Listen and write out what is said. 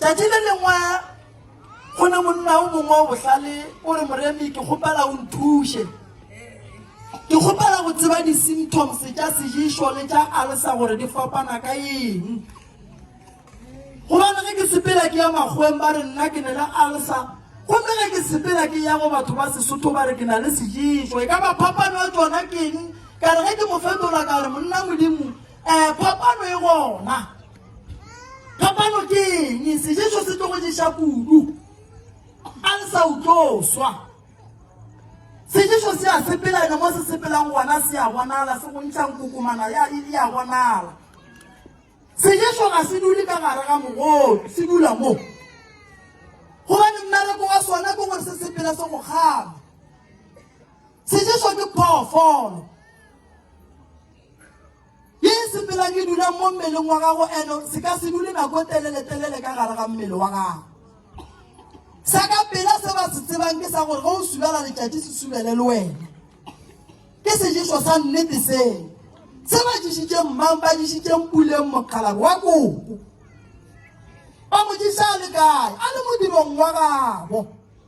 Tšatši le lengwe go ne monna o mongwe o bohlale o re moremi ke kgopela o nthuše ke kgopela go tseba di-symptoms tša sejišo le tša alsa gore di fapana ka eng gobane ge ke sepela ke ya makgweng ba re nna ke ne le alsa gomme ge ke sepela ke ya go batho ba sesotho ba re ke na le sejišo e ka ba phapano ya tsona ke eng ka re ge ke mo fetola ka re monna modimo um phapano e gona Kapano ke eng? Sejeso se tlogo ješa kudu. A le sa utlo swa. Sejeso se a sepelana mo se sepelang gona se a bonala se bontšhang kokomana ya e a bonala. Sejeso ga se dule ka gare ga mogolo, se dula mo. Gobane mmereko wa sona ke gore se sepela se go kgama. Sejeso ke phoofolo. Ye e sepelang e dulang mo mmeleng wa gago eno se ka se dule nako e telele-telele ka gare ga mmele wa gago. Sa ka pela se ba se tsebang ke sa gore ge o subela letšatši se subele le wena. Ke sejeso sa nnete se. Se ba dišitšeng mmang ba dišitšeng puleng mokgalabo wa koko. Ba mo diša a le kae? A le modirong wa gabo.